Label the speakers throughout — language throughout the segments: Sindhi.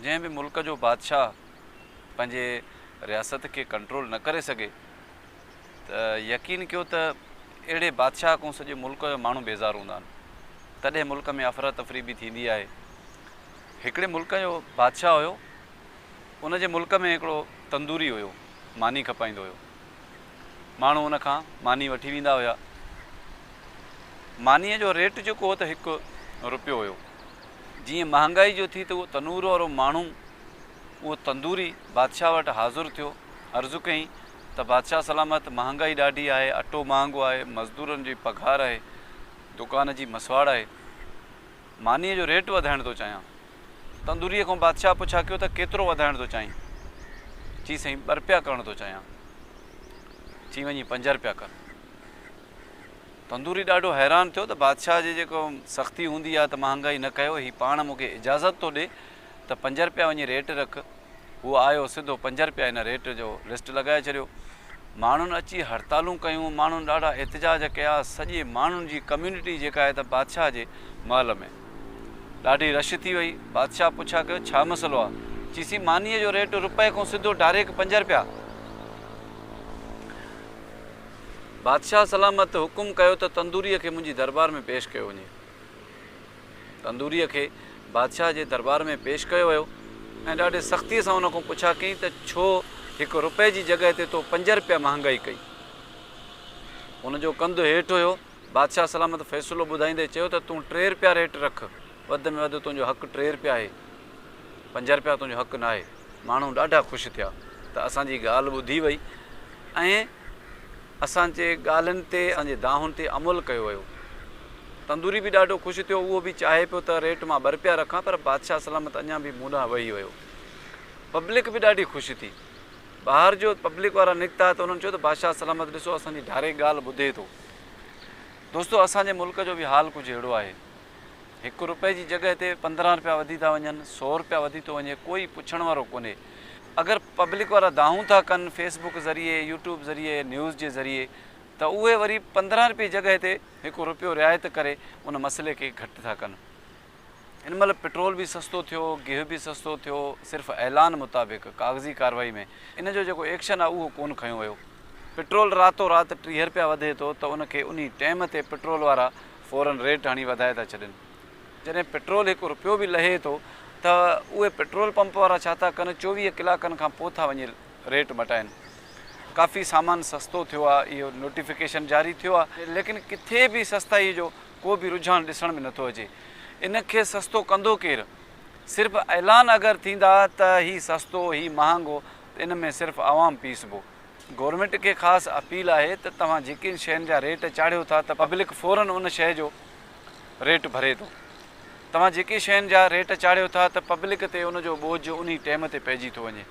Speaker 1: جنهن به ملڪ جو بادشاهه پنهنجي رياست کي ڪنٽرول نه ڪري سگهي ته يقين ڪيو ته اهڙي بادشاهه کان سڄي ملڪ جا ماڻهو بيزار هوندا آهن. تڏهن ملڪ ۾ افراتفري به ٿيندي آهي. هڪڙي ملڪ جو بادشاهه هيو. ان جي ملڪ ۾ هڪڙو تندوري هيو. ماني کپائيندو هيو. ماڻهو ان کان ماني وٺي ويندا هيا. مانيء جو ريٽ جيڪو هو ته هڪ روپيو هيو. جيئن مهانگائي جو ٿي ته اهو تنور وارو ماڻهو اهو تندوري بادشاهه وٽ حاضر ٿيو، عرض ڪيائين ته بادشاهه سلامت مهانگائي ڏاڍي آهي، اٽو مهانگو آهي، مزدورن جي پگهار آهي، دوڪان جي مسواڙ آهي، مانيء جو ريٽ وڌائڻ ٿو چاهيان. تندوريء کان بادشاهه پڇا ڪيو ته ڪيترو وڌائڻ ٿو چاهين؟ چي سائين ٻه رپيا ڪرڻ ٿو چاهيان. چي وڃي پنج رپيا ڪر. پنڌوري ڏاڍو حيران ٿيو ته بادشاهه جي جيڪو سختي هوندي آهي ته مهانگائي نه ڪيو، هي پاڻ مون کي اجازت ٿو ڏي ته پنج رپيا وڃي ريٽ رک. هو آيو سڌو پنج رپيا هن ريٽ جو لسٽ لڳائي ڇڏيو. ماڻهن اچي هڙتالون ڪيون، ماڻهن ڏاڍا احتجاج ڪيا، سڄي ماڻهن جي ڪميونٽي جيڪا آهي ته بادشاهه جي محل ۾ ڏاڍي رش ٿي وئي. بادشاهه پڇا ڪيو ڇا مسئلو آهي؟ چيسين مانيء جو ريٽ رپئي کان سڌو ڊائريڪٽ پنج رپيا. بادشاهه سلامت حڪم ڪيو ته تندوريء کي منهنجي دربار ۾ پيش ڪيو وڃي. تندوريء کي بادشاهه جي دربار ۾ پيش ڪيو ويو ۽ ڏاڍي سختيء سان ان کان پڇا ڪيائين ته ڇو هڪ رپئي جي جڳهه تي تو پنج رپيا مهانگائي ڪئي؟ ان جو ڪنڌ هيٺ هيو. بادشاهه سلامت فيصلو ٻڌائيندي چيو ته تون ٽي رپيا ريٽ رک، وڌ ۾ وڌ تنهنجو حق ٽي رپيا آهي. پنج رپيا تنهنجو حق ناهي. ماڻهو ڏاڍا خوش ٿيا ته اسان جي ڳالهه ٻڌي وئي ۽ اسان جي ڳالهين تي اسان جي دانهن تي عمل ڪيو ويو. تندوري به ڏاڍو خوش ٿيو اهو به چاهي پيو ته ريٽ مان ٻه رپيا رکان پر بادشاهه سلامت اڃا به مون ڏانهن وهي ويو. پبلڪ به ڏاڍي خوش ٿي. ٻاهر جو پبلڪ وارا نڪتا ته انهن چيو ته بادشاهه سلامت ڏسو اسان جي ڊائريڪٽ ڳالهه ٻڌي ٿو. دوستو اسان جي ملڪ جو به حال ڪجهه اهڙو آهي. هڪ روپئي جي جڳهه تي پندرهن روپيا وڌي ٿا وڃن، سؤ روپيا وڌي ٿو وڃي، ڪوئي پڇڻ وارو ڪونهي. اگر پبلڪ وارا دانهون ٿا ڪن فيس بڪ ذريعي، يوٽيوب ذريعي، نيوز جي ذريعي ته اهي وري پندرهن روپيي جي جڳهه تي هڪ روپيو رعايت ڪري ان مسئلي کي گهٽ ٿا ڪن. هن مهل پيٽرول به سستو ٿيو، گيهه به سستو ٿيو، صرف اعلان مطابق ڪاغذي ڪارروائي ۾ ان جو جيڪو ايڪشن آهي اهو ڪونه کنيو ويو. پيٽرول راتو رات ٽيهه روپيا وڌي ٿو ته ان کي انهي ٽيم تي پيٽرول وارا فورن ريٽ هڻي وڌائي ٿا ڇڏين. جڏهن پيٽرول هڪ رپيو به لهي ٿو ته اهي پيٽرول پمپ وارا ڇا ٿا ڪن چوويهه ڪلاڪن کان پوء ٿا وڃي ريٽ مٽائين. ڪافي سامان سستو ٿيو آهي اهو نوٽيفڪيشن جاري ٿيو آهي. ليڪن ڪٿي به سستائي جو ڪو به رجحان ڏسڻ ۾ نٿو اچي. ان کي سستو ڪندو ڪير؟ صرف اعلان اگر ٿيندا ته هي سستو هي مهانگو ته ان ۾ صرف عوام پيسبو. گورنمينٽ کي خاص اپيل آهي ته توهان جيڪين شين جا ريٽ چاڙهيو ٿا ته پبلڪ فورن ان شيء جو ريٽ ڀري ٿو توهان جيڪي شين جا ريٽ چاڙهيو ٿا ته پبلڪ تي ان جو ٻوجهه انهي ٽيم تي پئجي ٿو وڃي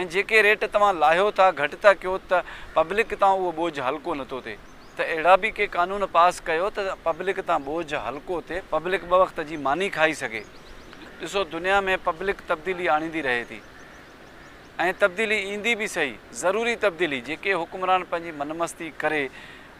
Speaker 1: ۽ جيڪي ريٽ توهان لاهيو ٿا گهٽ ٿا ڪيو ته پبلڪ تان اهو ٻوجهه هلڪو نٿو ٿئي ته اهڙا به ڪي قانون پاس ڪيو ته پبلڪ تان ٻوجهه هلڪو ٿئي پبلڪ ٻه وقت جي ماني کائي سگهي ڏسو دنيا ۾ پبلڪ تبديلي آڻيندي رهي ٿي. ۽ تبديلي ايندي به سهي، ضروري تبديلي، جيڪي حڪمران پنهنجي من مستي ڪري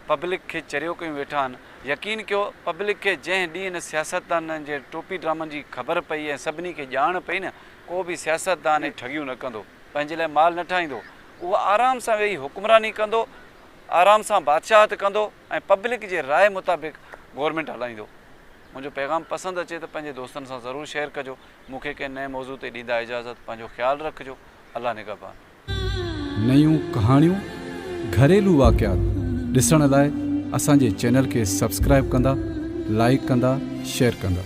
Speaker 1: پبلڪ کي چريو ڪيون ويٺا آهن، يقين ڪيو پبلڪ کي جنهن ڏينهن ان سياستدانن جي ٽوپي ڊرامن جي خبر پئي ۽ سڀني کي ڄاڻ پئي نه ڪو به سياستدان اهي ٺڳيون نه ڪندو، پنهنجي لاء مال نه ٺاهيندو، اهو آرام سان ويهي حڪمراني ڪندو، آرام سان بادشاهت ڪندو ۽ پبلڪ جي راء مطابق گورنمينٽ هلائيندو. منهنجو پيغام پسند اچي ته پنهنجي دوستن سان ضرور شيئر ڪجو. مون کي ڪنهن نئين موضوع تي ڏيندا اجازت پنهنجو خيال رکجو الله نگهبان.
Speaker 2: نيون ڪهاڻيون، گهريلو واقعات ڏسڻ لاء اسان جي چينل کي سبسڪرائيب ڪندا، لائيڪ ڪندا، شيئر ڪندا.